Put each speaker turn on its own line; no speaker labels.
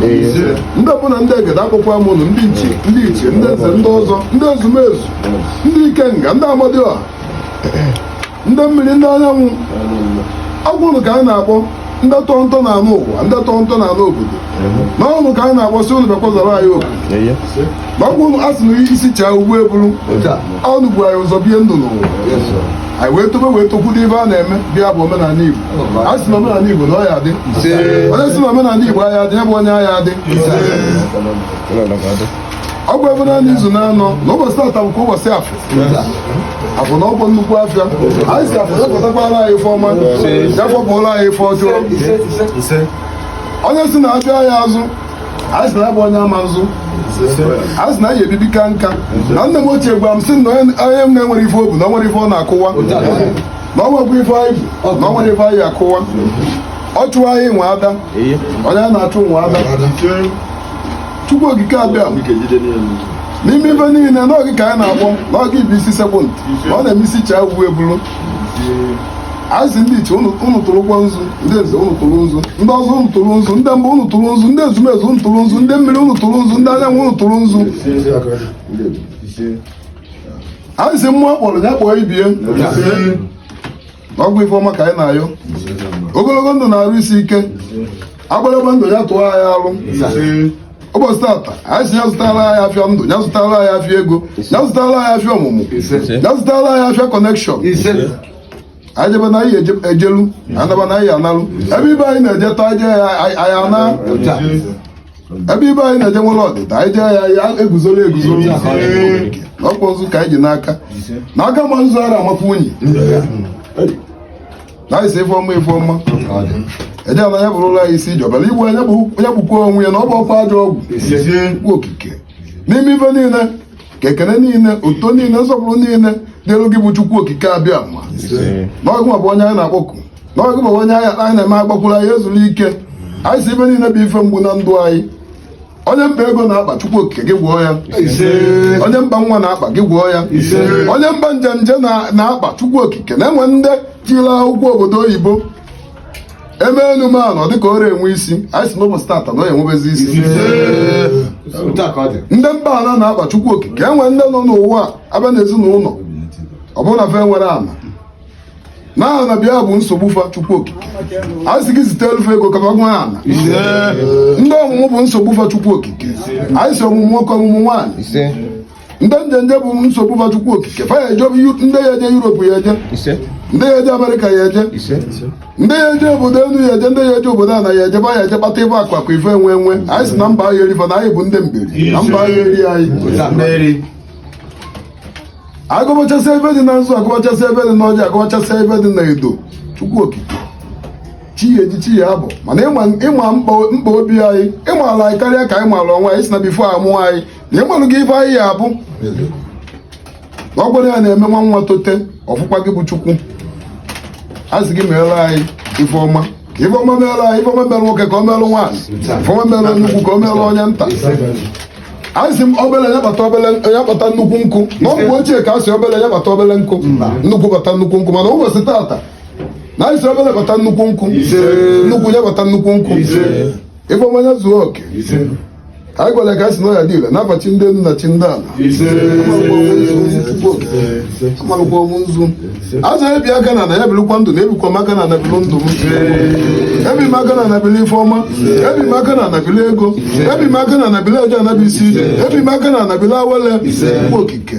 ndị mbụ na ndị egede akpọkuo m ụnụ ndị nchi ndị ichie ndị nze ndị ọzọ ndị ezumezu ndị ikenga ndị amadioha ndị mmiri ndị anyanwụ ọ bụ ụnụ ka anyị na-akpọ ndị tọrọ ntọ ana ụwa ndị tọrọ ntọ ana obodo na ọ ụnụ ka anyị na-akpọ sị ụnụ bịakwa zara anyị oku ma ọ bụ ụnụ a sị na isi chaa ugbo eburu ụnụ bu anyị ụzọ bie ndụ n'ụwa anyị wee tobe wee tokwudo ife a na-eme ebe a bụ omenala Igbo anyị si na omenala Igbo na ọ ya-adị onye si na omenala Igbo aya adị ya bụ onye aya adị ọ bụ ebe naanị izu na-anọ na ụbọchị tata bụkwa ụbọchị afọ afọ na ọ bụ nnukwu afịa anyị si afọ depụtakwara anyị ife ọma ya fọpụrụ anyị ife ọjọọ onye si na afịa aya azụ anyị si na ya bụ onye ama azụ anyị si na anyị ya-ebi ebi kaa nka na nne m ochie gwara m sị na onye na-enwerọ ife o bu na o nwerọ ife ọ na-akụwa na o nwerọkwa ife anyị bu na o nwerọ ife anyị akụwa ọchụ anyị nwe ada onye na-achụ nwe ada chukwu okike abiama n'ime ife niile na ọ gị ka anyị na-akpọ na ọ gị bụ isi sekpu ntị na ọ na-eme isi chaa uwe ebulu anyị si ndị ichie ụnụ tụrụkwa nzu ndị nze ụnụ tụrụ nzu ndị ọzọ ụnụ tụrụ nzu ndị mbụ ụnụ tụrụ nzu ndị ezumezu ụnụ tụrụ nzu ndị mmiri ụnụ tụrụ nzu ndị anyanwụ ụnụ tụrụ nzu anyị si mmụọ a kpọrọ ya kpọọ ibe ya ọ bụ ife ọma ka anyị na-ayọ ogologo ndụ na arụ isi ike agbalagba ndụ ya tụọ anyị alụ ụbọchị tata anyị si ya zụtara anyị afịa ndụ ya zụtara anyị afịa ego ya zụtara anyị afịa ọmụmụ ya zụtara anyị afịa connection anyị jebe na anyị ejelu anyị naba na anyị analu ebe ibe anyị na-eje tọ anyị jee ya anyị ana ebe ibe anyị na-eje nwere ọdịda anyị jee ya anyị eguzoro eguzoro ọkpọ nzu ka anyị ji n'aka na aka ma nzu ara amakwa unyi na anyị si ife ọma ife ọma eje na ya bụrụ ụlọ anyị isi jọbara igbu onye gbukwa onwe ya na ọ bụ ọkwa ajọ ọgwụ chukwu okike n'ime ife niile ka ekene niile uto niile nsọpụrụ niile dịlụ gị bụ chukwu okike abiama na ọ gị nwa bụ onye anyị na-akpọku na ọ gị nwa bụ onye anyị na-eme agbakwuru anyị ezuru ike anyị si ife niile bụ ife mgbu na ndụ anyị onye mkpa ego na-akpa chukwu okike gị gwọọ ya onye mkpa nwa na-akpa gị gwọọ ya onye mkpa njenje na-akpa chukwu okike na e nwere ndị tila akwụkwọ obodo oyibo e mee elu mee ana ọ dịka ọ rọ enwe isi anyị si n'ụbọchị tata na enwebezi isi ndị mkpa ana na-akpa chukwu okike e nwere ndị nọ n'ụwa abịa n'ezinụlọ ọ bụrụ na fa enwerọ ana na aha na bịa bụ nsogbu fa chukwu okike anyị si gị zite elufe ego ka bagwa ala ndị ọmụmụ bụ nsogbu fa chukwu okike anyị si ọmụmụ nwoke ọmụmụ nwaanyị ndị njenje bụ nsogbu fa chukwu okike fa ya eje ndị ya eje yuropu ya eje ndị ya eje amerịka ya eje ndị ya eje obodo elu ya eje ndị ya eje obodo ana ya eje fa ya eje kpata ife akụ akụ ife enwe enwe anyị si na mba ahịa eri fa na anyị bụ ndị mberi na mba ahịa eri anyị agọbachasị ife dị na nzu agọbachasị ife dị n'ọjị agọbachasị ife dị na edo chukwu okike chi ya eji chi ya abọ mana ịma mkpa obi anyị ịmala anyị karịa ka anyị malụ onwe anyị si na before amụọ anyị na ịmalugo ife anyị ya abụ na ọ gwara ya na-eme nwa nwa tote ọ bụkwa gị bụ chukwu a sị gị meelụ anyị ife ọma ka ife ọma meelụ anyị ife ọma meelụ nwoke ka o meelụ nwaanyị ife ọma meelụ onye ukwu ka o meelụ onye nta anyị si obele ya kpata obele ya kpata nnukwu nkụ na ọ bụ ochie ka a sị obele ya kpata obele nkụ nnukwu kpata nnukwu nkụ mana ụbọchị tata na anyị si obele kpata nnukwu nkụ nnukwu ya kpata nnukwu nkụ ife ọma ya zuo oke anyị gọlụ ka a sị na ọ ya adị ile n'afa chi ndị enu na chi ndị ana amalụkwa m nzu asaa ebi aka n'ana ya bilụkwa ndụ na ebikwa m aka n'ana bilụ ndụ m ebi m aka n'ana bili ife ọma ebi m aka n'ana bili ego ebi m aka n'ana bili eje ana bụ isi ije ebi m aka n'ana bili awele chukwu okike